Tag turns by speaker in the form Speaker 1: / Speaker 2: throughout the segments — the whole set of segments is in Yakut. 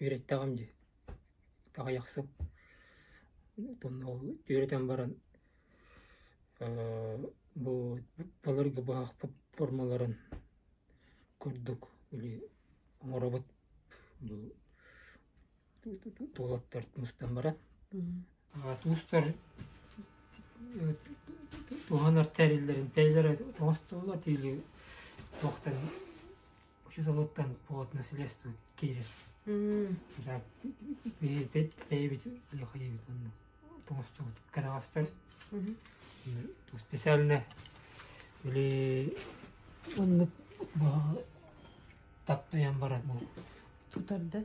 Speaker 1: Үөрэттэҕим дии, аҕыйахсыт итиннэ ол үөрэтэн баран бу былыргы быһахпыт формаларын курдук били оҥоробут бу тулаттар мустан баран туустар туһанар тэриллэрин бэйэлэрэ оҥостоллор или туохтан учууталыттан плотно средства киирэр бэйэбит Алеха диэбит уонна оҥостубут кэнэҕэстэр ту специальное или оннук таптайан барар бу тутарда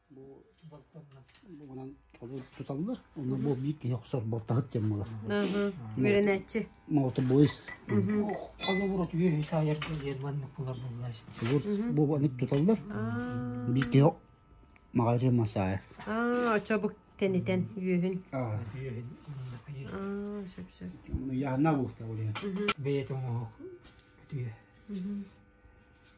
Speaker 1: Уонан туталлар. Онно бу биир киһи охсор балтаһыт дьон буолар. Үөрэнээччи. Мотобойс. Холобур үе саайарга ерманнык булар буллар. Бу анык туталлар. Биир киһи маҕайры масая. Аа, очобук тэнитен үөһүн. Аа. Үөһүн. Аа, сөп-сөп. Яна бу таулия. Бэйэтин оһох. Үтүө.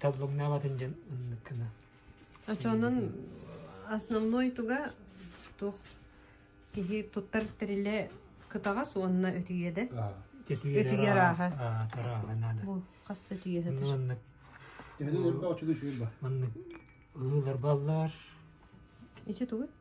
Speaker 1: Талбыҥнаабатын дьон оннуккана. Очонон основной туга туох киһи туттар тэрилэ кытаҕас уонна өтүйэ да? Өтүйэ арааха. Арааха наада. Бу хас өтүйэ хатыр. Маннык. Маннык ылылар баллар. Ичи тугу?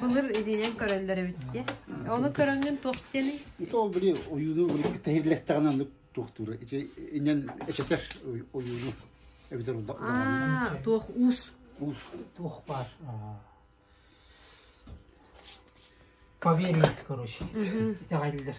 Speaker 1: Былыр илиинэн көрөллөр эбит диэ. Ону көрөҥҥүн туох диэний? Ити ол били ойууну тэһирлэстэҕинэ оннук туохтуура. Ити иннен эчэтэр ойууну эбитэр даҕаны. туох уус? Уус. Туох баар. Поверить, короче. Итэҕэллэр.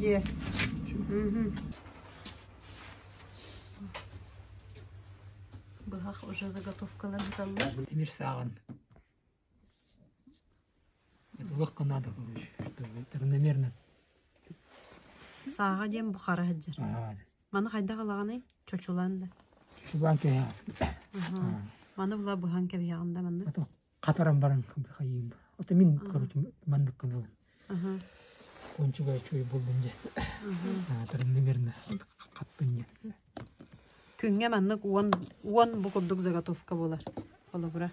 Speaker 1: Дьиэ. Быһах уже заготовкалар быталлар. Тимир сааҕын Сааҕа диэн бу хара сылдьар. Маны хайдах ылаҕыный? Чочулан да. Чубан кэһэ. Маны була быһан кэбиһэҕин да маннык. Хатаран баран хайыым. Ото мин, короче, маннык гына Ончугай үчүгэй буоллун диэн аатырын гимерна хаппын диэн Күҥҥэ маннык уон уон бу курдук заготовка буолар. Холобура.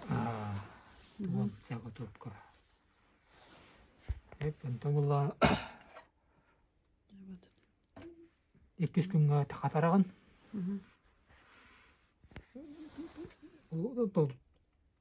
Speaker 1: Уон заготовка. Эппин тобулла иккис күнгэ хатарагын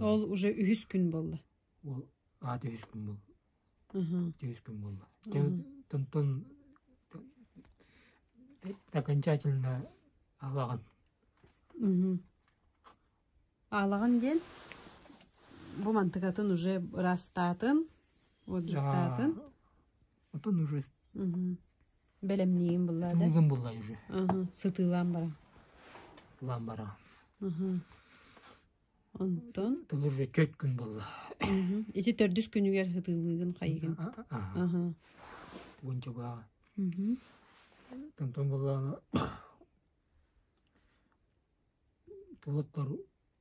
Speaker 1: Ол уже үһүс күн буолла. Ол аат үһүс күн буолла. Үһүс күн буолла. Тонтон окончательно алаган. Алаган диэн бу мантыкатын уже ырастаатын, уоддуктаатын. Отон уже бэлэмниигин булла да? Булган булла уже. Сытыылаан бара. Улаан бара. Онтон? Тыл уже төрт күн булла. Ити төрдүс күнүгэр хытыылыыгын хайыгын. Аха. Бүгүн чуга. Тантон буллаана. Толоттор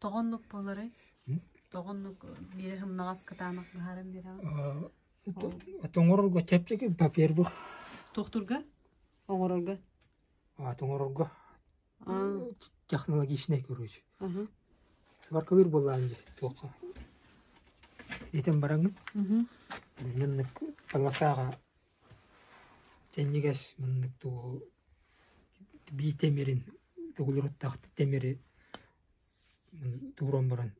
Speaker 1: Тоҕо оннук буоларый? Тоҕо оннук биирэ һымнаҕас кытаанах быһааран биэрэҕин? Тоҥорорго чэпчэки папирбы. Туохтурга? Оҥорорго? Тоҥорорго технологичнай короче. Сваркалыыр буоллаан дии туохха. Итин бараҥын. Иннинник таласааҕа Синньигэс муннук дууһу бии тимирин тугулуруттаахтык тимири тууран баран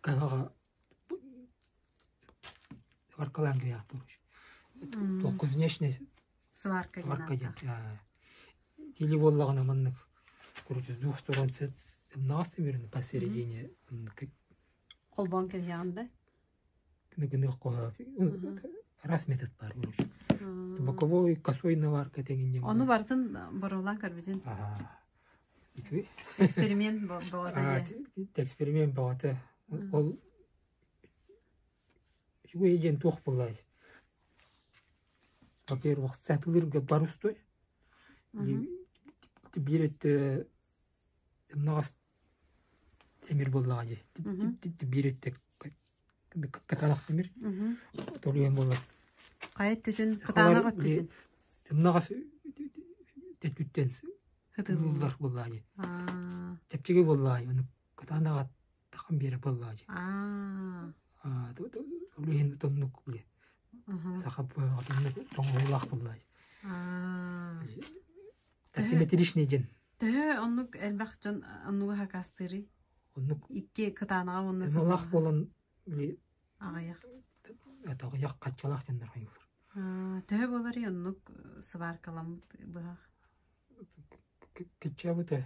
Speaker 1: каһаҕа сваркалаан кэйиэхтэ уруч туохха знешний сварка диэн или буоллаҕына маннык короче с двух сторон сымнаҕас тимирин посередине холбоон кэбиһиэҕин да гыныахха араас метод баар боковой косой наварка тегиннем ону барытын боруолаан көрбүтүн үчүгэй эксперимент боҕото эксперимент боҕото ол үчүгэй диэн туох буллайс во-первых сатылырга барустой биир өттө мнаҕас Тимир буоллаҕа дии. Биир өттө кытаанах тимир. Толуйан буолла. Хайа өттүтүн, кытаанах өттүтүн. Сымнаҕас өттүттэн хытыллар буоллаҕа дии. Чэпчиги буоллаҕа оны кытаанаҕа тахан биэрэ буоллаҕа дии. Толуйын тоннук биле. Саха тоҥуулаах буоллаҕа дии. Асимметричный диэн. Төһө оннук элбэх дьон оннуга хакастыырый? Оннук икки кытаанаҕа уонна сымалах буолан аҕыйах это аҕыйах хаччалаах дьоннор хойгур. Төһө буоларый оннук сваркаламыт быһах? Киччабыта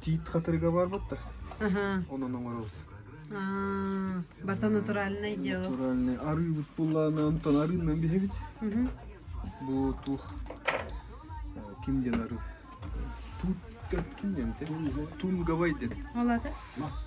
Speaker 1: Тиит хатырыга барбыт да. Онон оҥоробут. Баса натуральный дело. Натуральный. Арыыбыт буллааны онтон арыыннан биһэбит. Бу тух ким диэн арыы? Тут ким диэн те? Тунгавай дедим. Олады? Мас.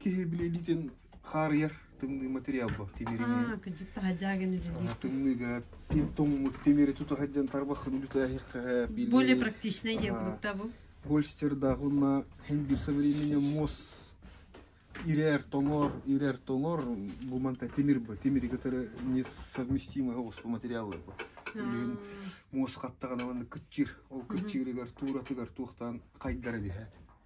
Speaker 1: Киһи били илиитин хаарыйар тымныы материал бу тимириҥи кырдьык таһаджагын илии тымныыга тоҥмут тимири туту сылдьан тарбахын үлүтээһиэххэ более практичный диэн продукта бу Гольстердаах уонна хендир со временем мосс ирэр тоҥор ирэр тоҥор бу манта тимир бу тимири кытары несовместимый оҕус бу материаллар бу үлүһүн мосс хаттаҕына манна кыччыр ол кыччырыгар тууратыгар туохтаан хайдара биһээт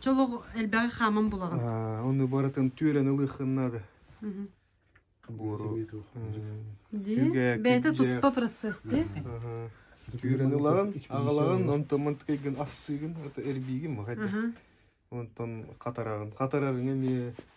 Speaker 1: Че олох элбэҕи хааман булаҕын. Оны барытын түүрэн ылыхын надо. Буору. Ди, бәйте туспа процесс, ди. Түүрэн ылаҕын, аҕалаҕын, онтон тыкайгын астыгын, это эрбиигин махайда. Онтон қатарагын. Қатарагын эмиэ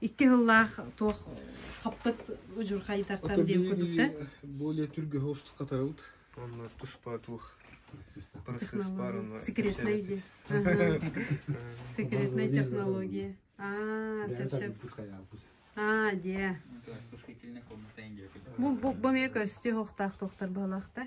Speaker 1: Икки сыллаах туох хаппыт удьурхайдартан диэн курдук да? более түргө устук катарабыт онно туспа туох процесс баарына секретный диэн секретная технология а сөп сөп а дия бу бу эмиэ көстүү хохтаах тухтар баалаахта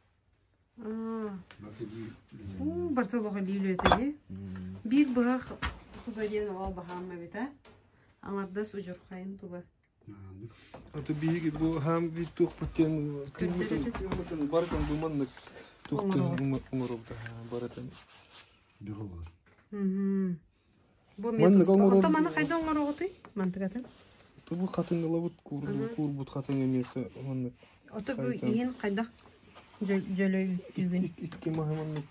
Speaker 1: уу бартыл ох илии үлэтэ ди биир быһа туга диэн ол баһаам эбитэ аҥардас удьурхайын туга аты биһиги бу хаам би туох битен барытын буманнык туохтур оҥоробута барытын Бу метод орто маны хайда оңороҕутуй? Мантыгатын? Ото бу хатын ылабыт куурбут хатын эмиэхэ маннык. Ото бу иһин хайдах жөлөй үгүн? Икки махыманнык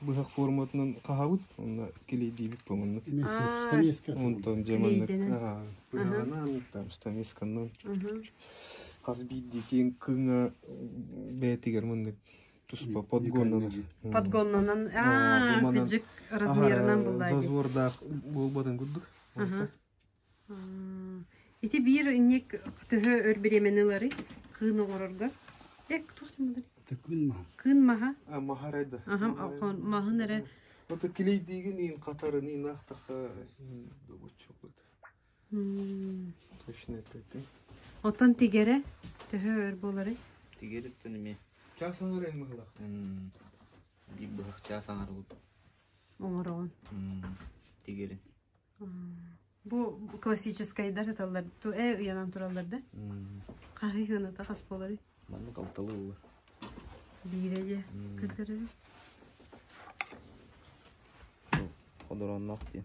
Speaker 1: быһах форматынан хаһабыт, онна килейдиибит поманнык. Онтон жеманнык быһаҕанан там штанисканнан хас биирдии киин кыҥа бээтигэр маннык туспа подгоннанар подгоннанан быдьык размерынан буллаа зазордаах буолбатын курдук ити биир инник төһө өр бириэмэни ылары кыын оҕорорго эк туох тималар кыын маһа кыын маһа маһа райда маһын эрэ вот килейдиигин иин қатарын иин ахтаха боччоклыт Точно это ты? Оттон тигерэ төһө өр буолары? Тигериттэн эмиэ чаас оҥор эн быһылах. Биир быһах чаас оҥорбут. Оҥороҕун. Тигерин. Бу классическайдар аталлар ту э ыянан тураллар да? Хаһый хыныта хас болары? Маннык алталы ыллар. Биире же көтөрөрү. Одороннох диэн.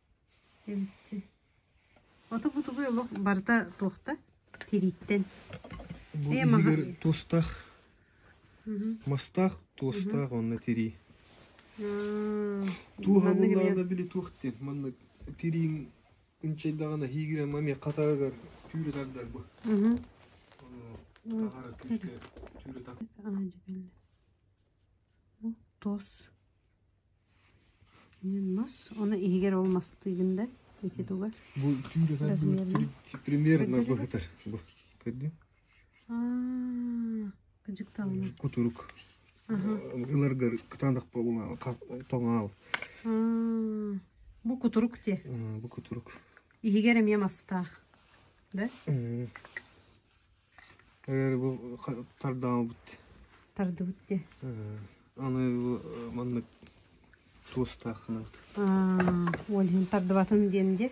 Speaker 1: Эмчи. Ото бу тугуй олох барыта туохта? Тирииттэн. Эйэ маһа. Бу туостаах. Мастаах, туостаах онно тирии. Туу хабыллаада били туохтен. Манна тириин ынчайдагана хигирен маме катарагар түүрүтардар бу. Тахара күскө түүрүтак. Тоос. мас оны иһигэр ол мастыыгын да ити тугар бу түүр отар примерно быһытар бу көрдүң кыдьыкталына кутурук ыларгар кытаандах болуна тоҥаал бу кутурук те бу кутурук иһигэр эмиэ мастаах да Эрээри бу тардымабыт. Тардыбыт дии. Аны бу маннык туостаах гынабыт. Ол иһин тардыбатын диэн дии.